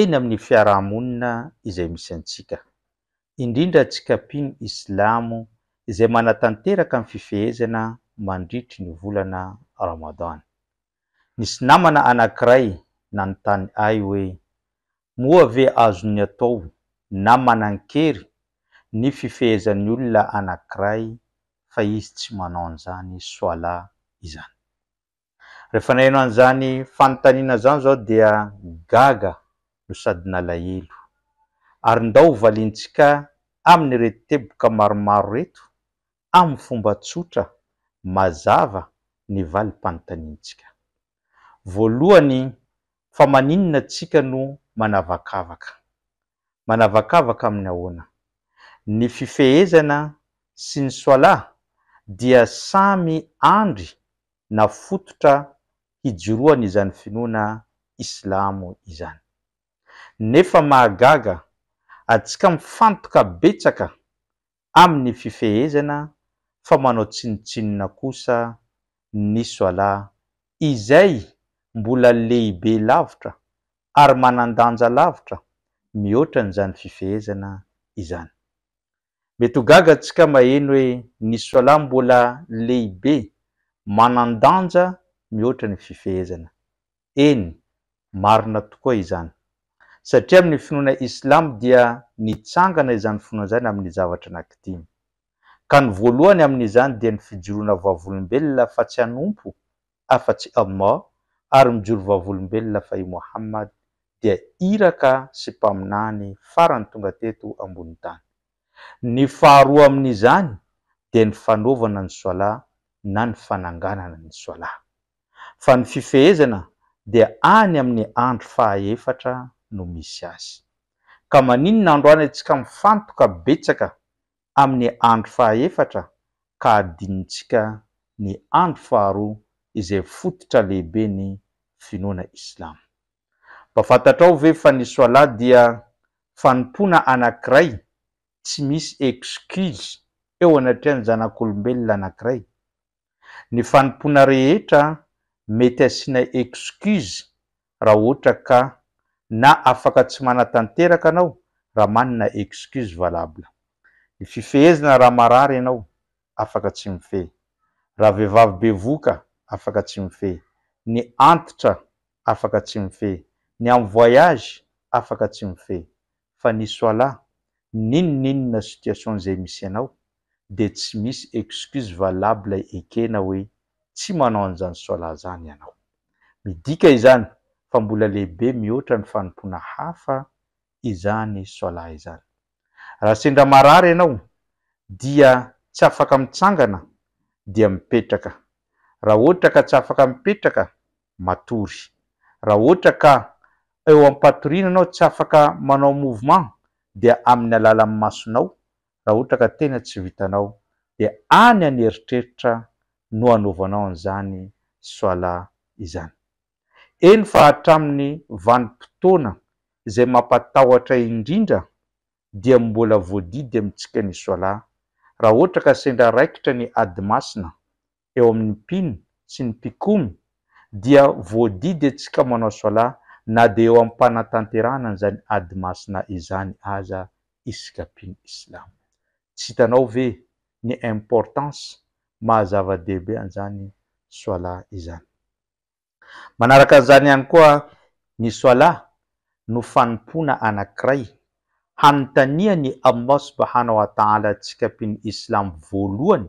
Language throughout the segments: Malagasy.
eny amin'ny fiaraha-monina izay misy antsika, indrindra antsika mpino islamo izay manatanteraka ny fifehezana mandritry ny volana Ramadan. Nisy namana anankiray nanontany ahy hoe, Moa ve azon'ny atao na manan-kery ny fifehezan'ny olona anankiray fa izy tsy manao an'izany Swala izany? Rehefa naheno an'izany fanontaniana izany izaho dia gaga no sady nalahelo. Ary ndao ho valintsika amin'ireto teboka maromaro ireto amin'ny fomba tsotra, mazava ny valim-panontaniantsika. Voalohany, fa maninona tsika no manavakavaka? manavakavaka amin'ny ahoana? Ny fifehezana sy ny Swalah dia samy andry na fototra hijoroan' izany finoana islamo izany. Nefa mahagaga, antsika mifantoka betsaka amin'ny fifehezana fa manao tsinontsinona kosa ny Swala izay mbola lehibe lavitra ary manan-danja lavitra mihoatra an'izany fifehezana izany. Mety ho gaga antsika maheno hoe ny Swala mbola lehibe, manan-danja mihoatra ny fifehezana. Eny, marina tokoa izany. Satria amin'ny finoana Islamo dia nitsangana izany finoana izany amin'ny zavatra anankidimy. Ka ny voalohany amin'izany dia ny fijoroana vavolombelona fa tsy hanompo afa-tsy Allah ary mijoro vavolombelona fa i Mohammad dia Iraka sy Mpaminany farany tonga teto ambonin'ny tany. Ny faharoa amin'izany dia ny fanaovana ny Swala na ny fananganana ny Swala. fa ny fifehezana dia any amin'ny andro fahaefatra no misy azy. Ka maninona androany antsika mifantoka betsaka amin'ny andro fahaefatra ka adinontsika ny andro faharoa izay fototra lehiben'ny finoana Islam? Mba fantatrao ve fa ny Swalah dia fanompoana anankiray tsy misy excuse eo anatrehan'ny zanak'olombelona anankiray Ny fanompoana rehetra mety asiana excuse raha ohatra ka na afaka tsy manatanteraka anao raha manana excuse valable. Ny fifehezana raha marary ianao, afaka tsy mifehy. Raha vehivavy bevoka, afaka tsy mifehy. Ny antitra, afaka tsy mifehy. Ny am voyage, afaka tsy mifehy. Fa ny soala, n'inon'inona situation izay misy anao, dia tsy misy excuse valable ekena hoe tsy manao an'izany solat izany ianao. Midika izany fa mbola lehibe mihoatra ny fanompoana hafa izany solat izany. Raha sendra marary ianao dia tsy afaka mitsangana dia mipetraka, raha ohatra ka tsy afaka mipetraka matory, raha ohatra ka eo am-patoriana ianao tsy afaka manao mouvement dia amin'ny alalan'ny masonao raha ohatra ka tena tsy vitanao dia any any eritreritra no anaovanao an'izany Swala izany. Eny fa hatramin'ny vanim-potoana izay mampatahotra indrindra dia mbola voadidy amintsika ny Swala raha ohatra ka sendra raikitra ny Ady Masina eo amin'ny mpino sy ny mpikomy dia voadidintsika manao Swala na dia eo am-panatanterahana an'izany ady masina izany aza isika mpino Islam. Tsy hitanao ve ny importance maha zava-dehibe an'izany Swala izany. Manaraka an'izany ihany koa ny Swala no fanompoana anankiray hanontanian'i Allah Subhanahu wa Ta'ala antsika mpino Islam voalohany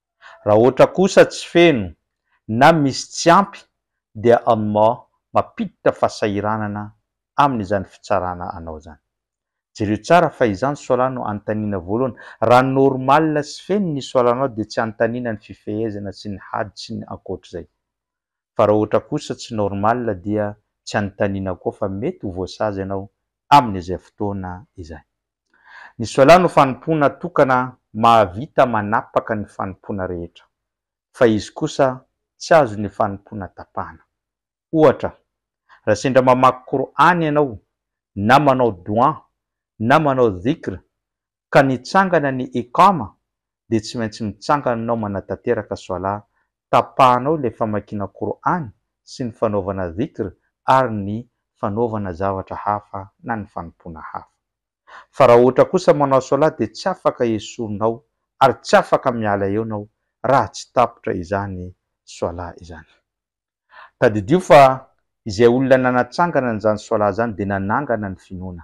Raha ohatra kosa tsy feno na misy tsy ampy dia Allah mampiditra fahasahiranana amin izany fitsarana anao zany. Jereo tsara fa izany solat no anontaniana voalohany. Raha normal sy feno ny solat-nao dia tsy anontaniana ny fifehezana sy ny hajj sy ny ankoatr'izay. Fa raha ohatra kosa tsy normal dia tsy anontaniana koa fa mety ho voasazy ianao amin izay fotoana izay. Ny Solah no fanompoana tokana mahavita manapaka ny fanompoana rehetra, fa izy kosa tsy azo ny fanompoana tapahana. Ohatra, raha sendra mamaky Qur'an ianao, na manao Doua, na manao Dhikr, ka nitsangana ny Iqama, dia tsy maintsy mitsangana ianao manatanteraka Swalah, tapahanao ilay famakiana Qur'an sy ny fanaovana Dhikr ary ny fanaovana zavatra hafa na ny fanompoana hafa. Fa raha ohatra kosa manao Swalah dia tsy afaka esorinao ary tsy afaka miala eo ianao raha tsy tapitra izany Swalah izany. Tadidio fa izay olona nanatsangana an'izany Swalah izany dia nanangana ny finoana.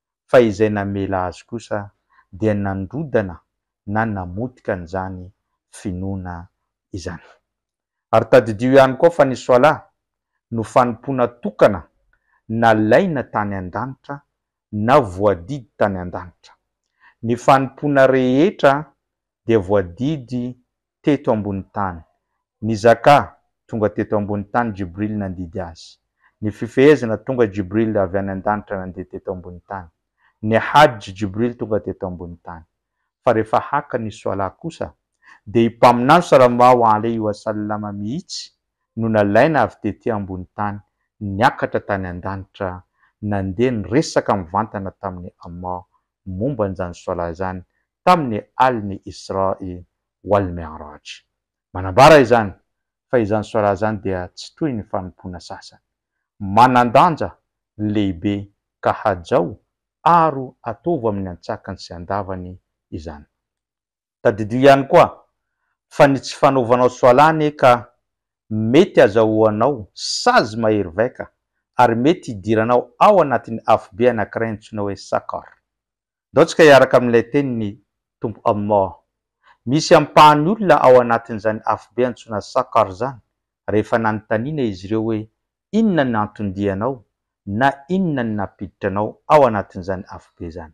fa izay namela azy kosa dia nandrodana na namotika an'izany finoana izany. Ary tadidio ihany koa fa ny Swalah no fanompoana tokana nalaina tany an-danitra na voadidy tany an-danitra. Ny fanompoana rehetra dia voadidy teto ambony tany. Nizakà, tonga teto ambony tany Jibril nandidy azy. Ny fifehezana, tonga Jibril avy any an-danitra nandeha teto ambony tany. Ny Hajj, Jibril tonga teto ambony tany. Fa rehefa haka ny Swalah kosa, dia i Mpaminany Sallallahu alaihi wa sallam mihitsy no nalaina avy tety ambony tany niakatra tany an-danitra nandeha niresaka mivantana tamin'i Allah momba an'izany sola izany tamin'ny alin'ny Isra i wal Mi'raj. Manambara izany fa izany sola izany dia tsy toy ny fanompoana sasany. Manan-danja lehibe ka hajao aro ataovo amin'ny antsakany sy andavany izany. Tadidio ihany koa fa ny tsy fanaovanao soalà anie ka mety hazahoanao sazy mahery vaika ary mety hidiranao ao anatin'ny afobe anankiray antsoina hoe Saqar. Ndao tsika hiaraka amin'ilay tenin'ny Tompo Allah. Misy ampahany olona ao anatin'izany afobe antsoina Saqar izany rehefa nanontaniana izy ireo hoe inona ny anton-dia anao na inona ny nampiditra anao ao anatin'izany afobe izany.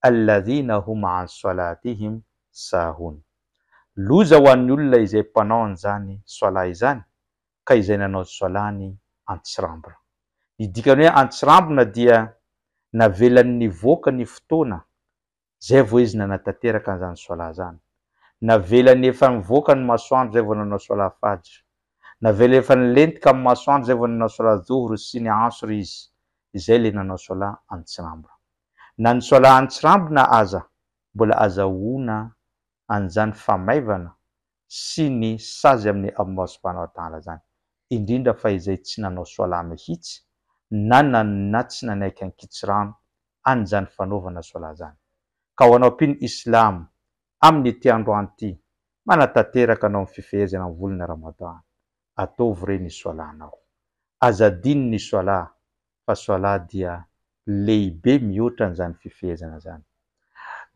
Alladhina hum an solatihim sahun. Loza ho an'ny olona izay mpanao an'izany soalah izany ka izay nanao soalahny antsirambina. Ny dikany hoe antsirambina dia navelany nivoaka ny fotoana zay vao izy nanatanteraka an'izany soalah zany. Navelany efa nivoaka ny masoandro zay vao nanao soalah fajr. Navelany efa nilentika amin'ny masoandro zay vao nanao soalah dhuhr sy ny asr izy. Izay ilay nanao soalah antsirambina. Na ny soalahan'ny tsirambina aza mbola azahoana an'izany famaivana sy ny sazy amin'ny amoaso mpanao adala izany, indrindra fa izay tsy nanao soalaha mihitsy na nanona tsy nanaiky an-kitsirano an' izany fanaovana soalaha izany. Ka ho anao mpino islamo, amin'ity androany ity, manatanteraka anao ny fifehezana ny volana Ramadan, ataovy re ny soalahnao. Aza adino ny soalaha fa soalaha dia lehibe mihoatra an'izany fifehezana izany.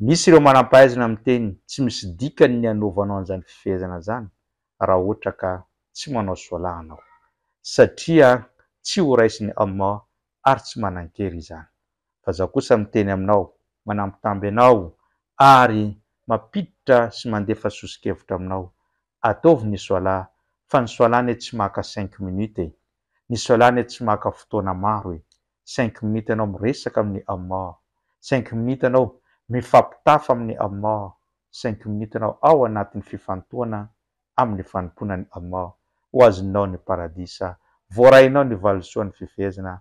Misy ireo manam-pahaizana miteny tsy misy dikany ny anaovanao an'izany fifehezana izany raha ohatra ka tsy manao soalaha anao. Satria tsy ho raisin'i Allah ary tsy manan-kery izany. Fa Izaho kosa miteny aminao, manambitamby anao ary mampiditra sy mandefa soso-kevitra aminao ataovy ny soala fa ny soala anie tsy maka cinq minutes e! Ny soala anie tsy maka fotoana maro e! Cinq minutes anao miresaka amin'ny Allah, cinq minutes anao mifampitafa amin'ny Allah, cinq minutes anao ao anatin'ny fifantohana amin'ny fanompoana an'i Allah, ho azonao ny paradisa, voarainao ny valisoan'ny fifehezana